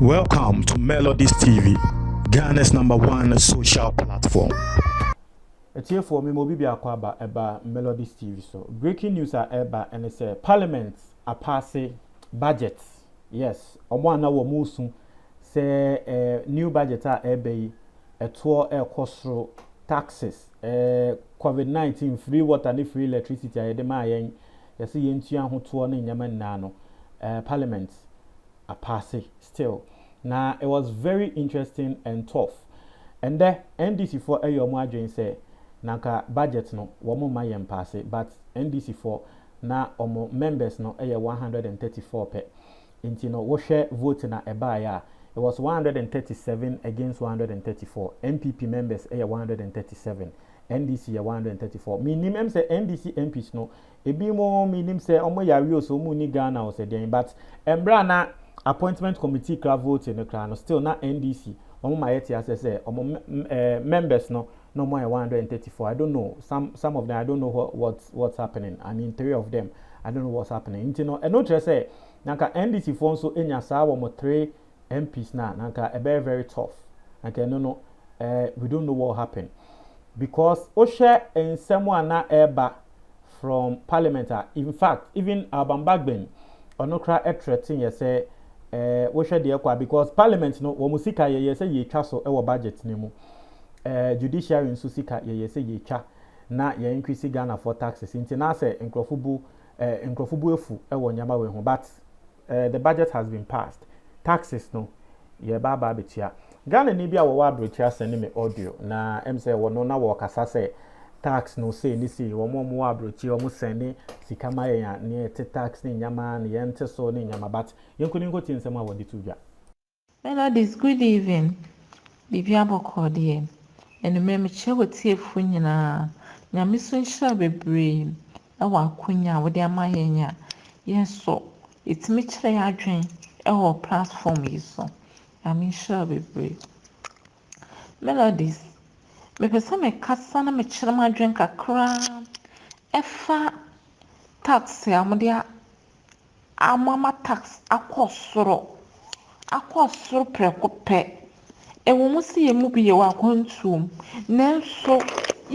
Welcome to Melodies TV, Ghana's number one social platform. Atiefoɔ mema obi biako aba ɛba Melodies TV so. Breaking news a ɛba ɛne sɛ parliament apaase budget. Yes, wɔn a na wɔn resu sɛ eh, new budget a ɛba yi ɛtoɔ ɛrekɔ soro taxes, eh, COVID-19, free water ne free electricity a yɛde maa yɛn yɛse yɛntua ho toɔ ne nneɛma nyinaa no eh, parliament apaase still. Na it was very interesting and tough. Ɛndɛ NDC foɔ ɛyɛ wɔn adwene sɛ na nka budget no wɔn mma yɛn mpaase but NDC foɔ na wɔn members no ɛyɛ one hundred and thirty four pɛ. Nti no wohwɛ vote na ɛbaeɛ a, it was one hundred and thirty seven against one hundred and thirty four, NPP members yɛ one hundred and thirty seven, NDC yɛ one hundred and thirty four. Mennim, ɛm sɛ NDC MPs no, ebi mo mennim sɛ ɔmo yɛ awe o, sɛ ɔmo nni Ghana o, sɛ deɛn, but mberɛ a na appointment committee kra vote no kra no, still na NDC, ɔmo ma yɛte aseɛ sɛ ɔmo mɛ ɛɛ members no, na ɔmo ayɛ one hundred and thirty four I don't know some some of them I don't know what what what's happening I mean three of them I don't know what's happening nti no ɛno kyerɛ sɛ nanka NDC foɔ nso enya saa wɔn three MPs na nanka ɛbɛyɛ very tough nanka ɛno no ɛɛ eh, we don't know what happen because wohwɛ nsɛm a na ɛreba from parliament a in fact even Alban Bagbin ɔno kora ɛtrɛ ten yɛ sɛ ɛɛ eh, wohwɛ deɛ kɔ a because parliament no wɔn sika yɛ yɛ sɛ yɛtwa so ɛwɔ budget no mu. eh, judiciary nso sika yɛyɛ sɛ yɛtwa na yɛ increase Ghana foɔ taxes nti na sɛ nkurɔfo bu eh, nkurɔfo bu afu wɔ nneɛma wei ho but eh, the budget has been passed taxes no yɛba aba abɛtua Ghana ni bi a wɔwɔ aberɛkyiri asɛn ne me audio na ɛm sɛ wɔ no na wɔkasa sɛ tax no sei ne sei wɔn wɔn wɔ aberɛkyiri wɔn sɛn ne sika ma yɛn a ne yɛte tax ne nneɛma ne yɛn te so ne nneɛma but yɛn nkoninko ti nsɛm a wɔde to dwa. Melodies good evening biribi abɔkɔɔ deɛ anumere mekyia watiefo nyinaa nyame so nhyira bebree ɛwɔ akonya a wode ama yɛn a yɛn so yɛtumi kyerɛ yɛn adwen ɛwɔ platform yi so nyame nhyira bebree melodies mepɛ sɛ mekasa na mekyerɛ m'adwen kakra ɛfa tax a wɔde ama ma tax akɔ soro, akɔ soro prɛko pɛ. Ɛwɔ mu sɛ yɛn mu bi yɛwɔ akwantuo mu, nanso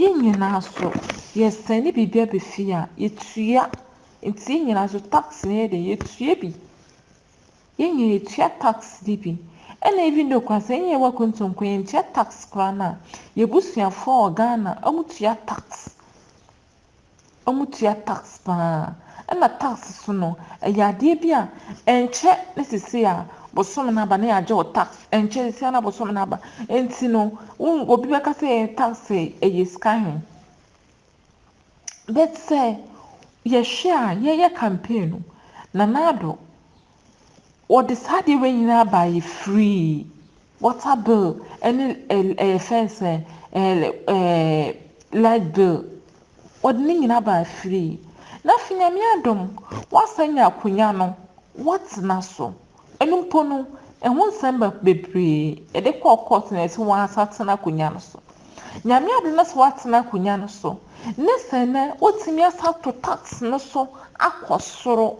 yɛn nyinaa so yɛsɛne biribi aba fie a, yɛtua. Nti yɛn nyinaa so tax no yɛ dɛ, yɛtua bi. Yɛn nyinaa yɛtua tax no bi. Ɛna even though koraa sɛ yɛn nyinaa yɛwɔ akwantuo mu mpo yɛntua tax koraa no a, yɛn abusuafoɔ wɔ Ghana, wɔtua tax. wɔtua tax pa ara. Ɛna tax nso no, ɛyɛ adeɛ bi a ɛnkyɛ ne seesei a bosome no aba na yɛagye wo tax. Ɛnkyɛ seesei ara na bosome no aba. Nti no, wo obi bɛka sɛ tax ɛyɛ sika he. But sɛ yɛhwɛ a, yɛyɛ campaign no, Nana Addo Wɔde saa adeɛ wei nyinaa baeɛ firii water bill ne ɛɛ fɛn sɛ ɛɛ ɛɛ light bill. Wɔde ne nyinaa baeɛ firii. Na afei Nyame adom, wɔasan anya akonnwa no, wɔatena so. Ɛno mpo no, ɛho nsɛm ba bebree. Yɛde kɔɔ court na wɔse wɔn asan atena akonnwa no so. Nyame adom na sɛ wɔatena akonnwa no so, ne sɛ nnɛ wɔatumi asan ato tax no so akɔ soro.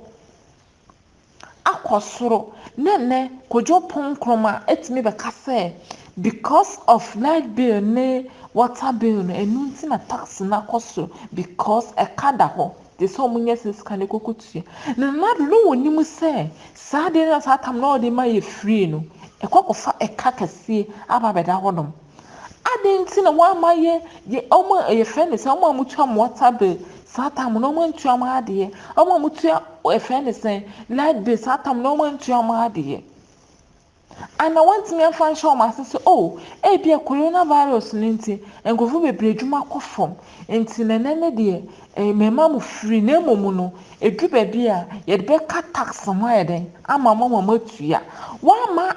akɔ soro ne nnɛ Kojo Pon Nkrumah atumi bɛka sɛ because of light bill ne water bill no ɛno nti na tax no akɔ soro because ɛka da hɔ te sɛ wɔn nya sika no koko tua na nado no wɔ nim sɛ saa deɛ na saa tam na wɔde ma yɛ free no ɛkɔ kɔfa ɛka kɛseɛ aba bɛda hɔ nom. Adɛn nti na wɔamma yɛ yɛ wɔn a yɛfrɛ no sɛ wɔn a wɔtua wɔn water bill saa tam no wɔn antua wɔn adeɛ wɔn a wɔtua yɛfrɛ no sɛ light bill saa tam no wɔn antua wɔn adeɛ ana wɔntumi amfa nhyɛ wɔn ase sɛ o oh, ebia corona virus no nti nkurɔfo bebree adwuma kɔ fam nti na ɛnɛ ne deɛ eh, mmarima mu firi na mmom no edu baabi a yɛde bɛka tax ho ayɛ dɛn ama wɔn a wɔatua wɔama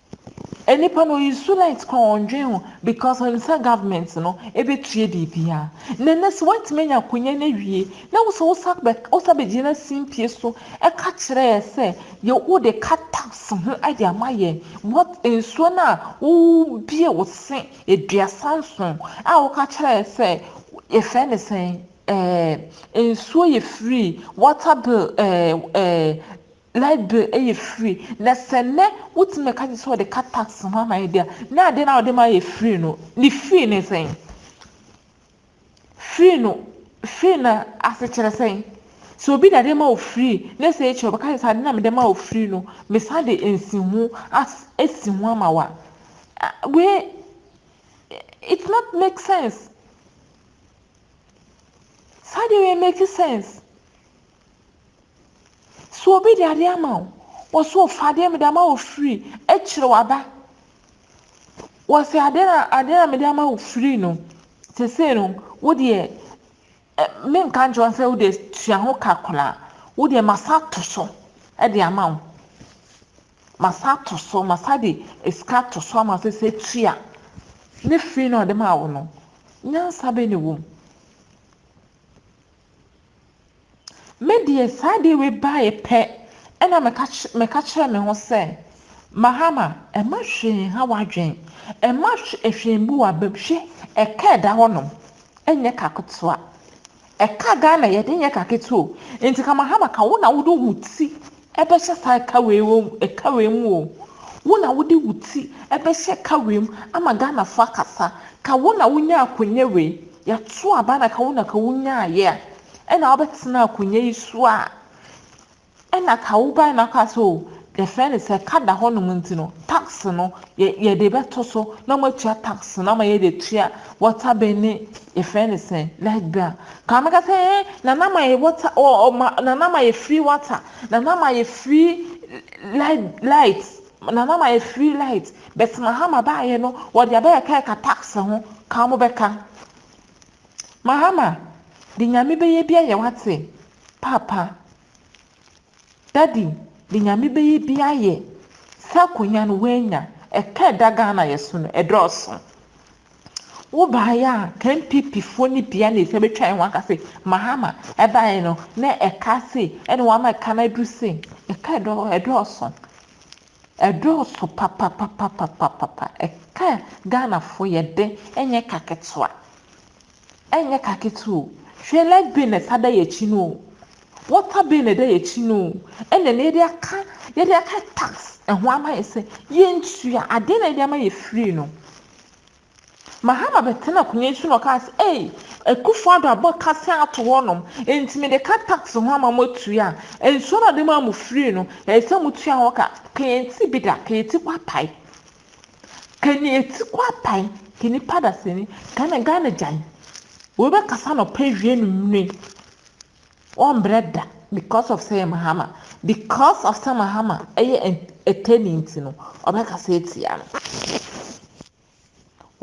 Nipa no ɔyɛ su light koraa ɔndwen ho because ɔnim sɛ government no ɛbɛtua biribia na ɛnɛ sɛ woantumi anya akonya no awie na wosɛ wosa bɛgyina simpie so ɛka kyerɛ yɛ sɛ yɛ wode ka tax ho de ama yɛ what nsuo no a wobie wo se aduasa nson a woka kyerɛ yɛ sɛ yɛfɛ ne sɛn ɛɛ nsuo yɛ free water bill ɛɛ ɛɛ Light bill yɛ free na sɛ nnɛ wotumi ɛka kyerɛ sɛ wɔde ka tax ho ama yɛ deɛ a na adeɛ no a wɔde ma yɛ free no ne free ne sɛn free no free na ase kyerɛ sɛn sɛ obi na de ma wo free ne sɛ ekyɛ ɔbɛka sɛ ade na mede ma wo free no mesan de nsi ho as esi ho ama wa wei it's not make sense saa deɛ wei make sense. Sɛ obi de adeɛ ama wo, wɔse ɔfa adeɛ mede ama wo free akyire waba. Wɔse adeɛ na adeɛ na mede ama wo free no, sesei no wo deɛ ɛ menka nkyerɛ wo sɛ wo deɛ tua ho ka koraa. Wo deɛ masa ato so de ama wo. Masa ato so, masa de sika ato so ama wo sɛ sɛ tua ne free no a ɔde maa wo no. Nyansa bɛn na ɛwɔ mu? Me deɛ saa ade wei baeɛ pɛ na meka meka kyerɛɛ me ho sɛ, Mahama, mma hwee nha w'adwene, mma hwee mmu w'abam. Hwɛ, ɛka ɛda hɔnom, ɛnyɛ ka ketewa. Ɛka Ghana yɛde nyɛ ka ketewa o. Nti ka Mahama ka wo na wode wo ti bɛhyɛ saa kawee wom kawee mu o wo na wode wo ti bɛhyɛ kawee mu ama Ghanafo akasa ka wo na wonyaa akonya wei yɛato aba na ka wo na ka wonyaaeɛ a ɛna wobɛtena akonya yi so a ɛna ka wobae na ka sɛ o yɛfrɛ no sɛ ka da hɔnom nti no tax no yɛde bɛto so na wɔatua tax no ama yɛde atua water bill ne yɛfrɛ no sɛ light bill a Ka meka sɛ eh nana ma yɛ water ɔ oh, ma nana ma yɛ free water nana ma yɛ free light light nana ma yɛ free light bɛt mahama baayɛ no wɔde abɛyɛ ka ɛka tax ho ka wɔn bɛka mahama de nyame bɛyɛ bi ayɛ wate papa daddy de nyame bɛyɛ bi ayɛ sɛ akonya no wɔanya ɛka ɛda ghana yɛ so no ɛdɔɔso. Wo baeɛ a ka NPP foɔ no bia na ɛsɛ bɛtwa yɛn ho aka se Mahama ɛbaeɛ no na ɛka se ɛna wama ɛka no aduru se ɛka ɛdɔ ɛdɔɔso ɛdɔɔso papapapapapapa ɛka Ghana foɔ yɛde ɛnyɛ ka ketewa. Ɛnyɛ ka ketewa o. Hwɛ light bɛn na ɛsa da yɛn akyi no o, water bɛn na ɛda yɛn akyi no o, ɛna ɛnnɛ yɛde aka, yɛde aka tax ɛho ama yɛn sɛ yɛntua, adeɛ na yɛde ama yɛn free no. Mahama bɛtena akonnwa yi so na ɔkaa sɛ, ei, Akufo Addo abɔ kasɛn ato hɔnom, enti mede ka tax ho ama mo atua, nsuo no a ɔde maa mo free no, ɛsɛ sɛ motua ho ka. Ka yɛn ti bi da, ka yɛn ti kwapae. Kani eti kɔ apan kani pada sini Ghana Ghana gyan Wei bɛ kasa no pɛ wie no nwune Wɔn brɛ da because of sɛ yɛ Mahama Because of sɛ Mahama ɛyɛ ɛtɛni nti no Ɔbɛ kasa etia no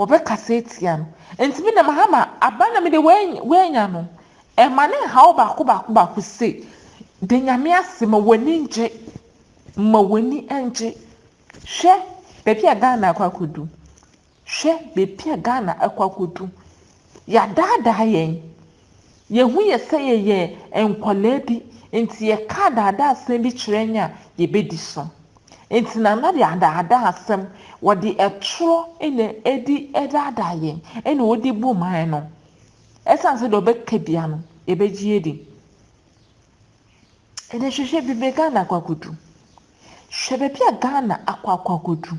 Ɔbɛ kasa etia no Nti mi de Mahama aba na mi de wɛ nya no Ɛma ne nha wo baako baako baako sei Da nyame ase ma w'ani ngye Ma w'ani ngye Hwɛ baabi a Ghana akɔ akɔdu. Hwɛ baabi a Ghana akɔ akɔdu. Yɛadaadaa yɛn. Yɛhu yɛ sɛ yɛyɛ nkwadaa bi, nti yɛka adaadaa asɛm bi kyerɛ yɛn a, yɛbɛdi so. Nti Nana de adaadaa asɛm, wɔde ɛtorɔ na ɛdi ɛdaadaa yɛn, ɛna wɔde bu man no. Ɛsiane sɛ deɛ ɔbɛka biara no, yɛbɛgye adi. Ɛnɛ hwehwɛ bebe Ghana akɔ akɔdu. Hwɛ baabi a Ghana akɔ akɔ akɔdu.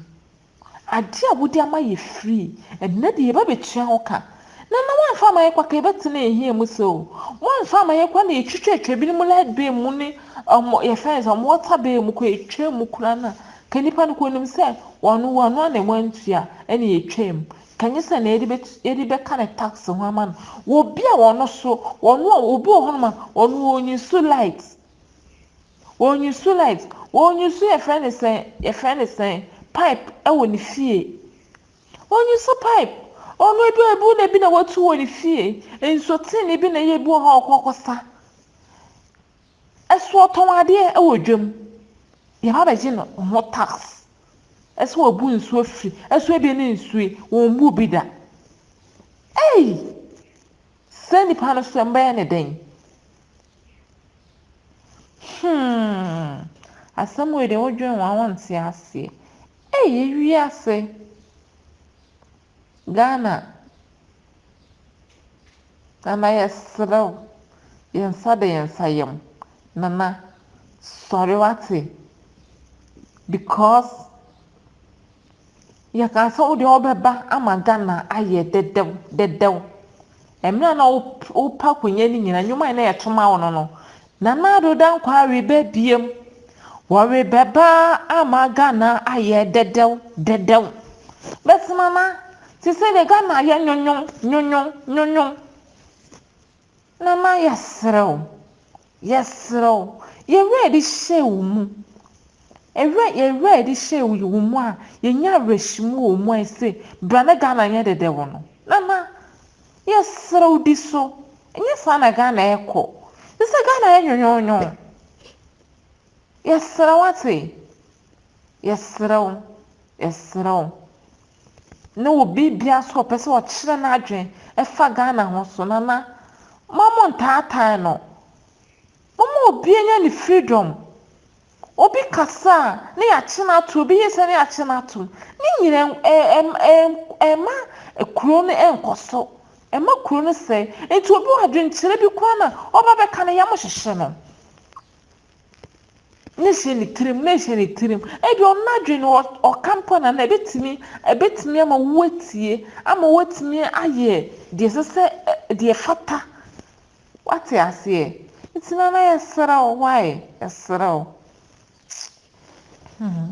Adeɛ a wode ama yɛ free, ɛnɛ deɛ yɛba bɛtua ho ka. Na na woamfa ama yɛ kwa ka yɛbɛtena ɛhia mu sɛ o. Woamfa ama yɛ kwa na yɛtwitwa atwa binom light bill mu ne um, yɛfrɛ no sɛ wɔn water bill mu kɔ yɛtwa mu koraa na ka nipa no kɔ nim sɛ wɔn wɔn ano na wɔantua ɛna yɛtwa mu. Ka nyɛ sɛ na yɛde bɛ yɛde bɛka ne tax ho ama no wɔ obi a ɔno so ɔno a obi wɔ hɔnom a ɔno ɔnyi so light ɔnyi so light ɔnyi so yɛfrɛ ne sɛn yɛfrɛ ne sɛn pipe ɛwɔ ne fie ɔnyi so pipe ɔno ebi wɔ ebi na ebi na watu wɔ ne fie nsuo tee ne bi na ɛyɛ ebi wɔ hɔ a ɔkɔ akɔsa. So ɔtɔn adeɛ wɔ dwam? Deɛ wabɛgye no ho tax. So wabu nsuo firi? So ebi ne nsuo yi, wɔmmu bi da. Ei! Saa nipa no so mbɛyɛ ne dɛn? Hmm. Asɛm wei deɛ wodwen ho a wonte aseɛ. Ei, ewiase! Ghana Nana yɛsrɛ wo yɛn nsa da yɛn nsa yam Nana sɔre wate because yɛka sɛ wo deɛ wobɛba ama Ghana ayɛ dɛdɛw dɛdɛw mmerɛ na wopa konya no nyina nnwuma a na yɛtoma wo no no Nana Addo Dankwa rebɛbiem, wɔrebɛba ama Ghana ayɛ dɛdɛw dɛdɛw. But Nana, te sɛ deɛ Ghana ayɛ nwonwon nwonwon nwonwon. Nana yɛserɛ wo, yɛserɛ wo, yɛn werɛ a yɛde hyɛɛ wo mu, ɛwerɛ, yɛn werɛ a yɛde hyɛɛ wo mu a yɛnya awerɛhyemu wɔ mu a ɛse bra na Ghana nyɛ dɛdɛw no, Nana, Yɛsrɛ wo di so. Ɛnyɛ saa na Ghana rekɔ. Ɛsɛ sɛ Ghana yɛ nwonwonwon. Yɛsrɛ wo ate. Yɛsrɛ wo. Yɛsrɛ wo. Ne obi biara nso a ɔpɛ sɛ ɔkyerɛ n'adwene ɛfa Ghana ho so, Nana, mma montaatae no. Momma obiara nya ne freedom. Obi kasa a, na yɛakye no atom, obi yɛ sei a, na yɛakye no atom. Ne nyinaa ɛmma kuro no nkɔ so, ɛmma kuro no sɛe. Nti obi wɔ adwenkyerɛ bi koraa no a, ɔba bɛka no, yam hyehye no. Na ɛhyɛ ne tirim, na ɛhyɛ ne tirim. Ebia ɔno n'adwene no, ɔka mpo a, na na ɛbɛtumi, ɛbɛtumi ama woatie, ama woatumi ayɛ deɛ ɛsɛ sɛ, deɛ ɛfata Wate aseɛ? Nti Nana yɛsrɛ wo why? Yɛsrɛ wo. Hmm.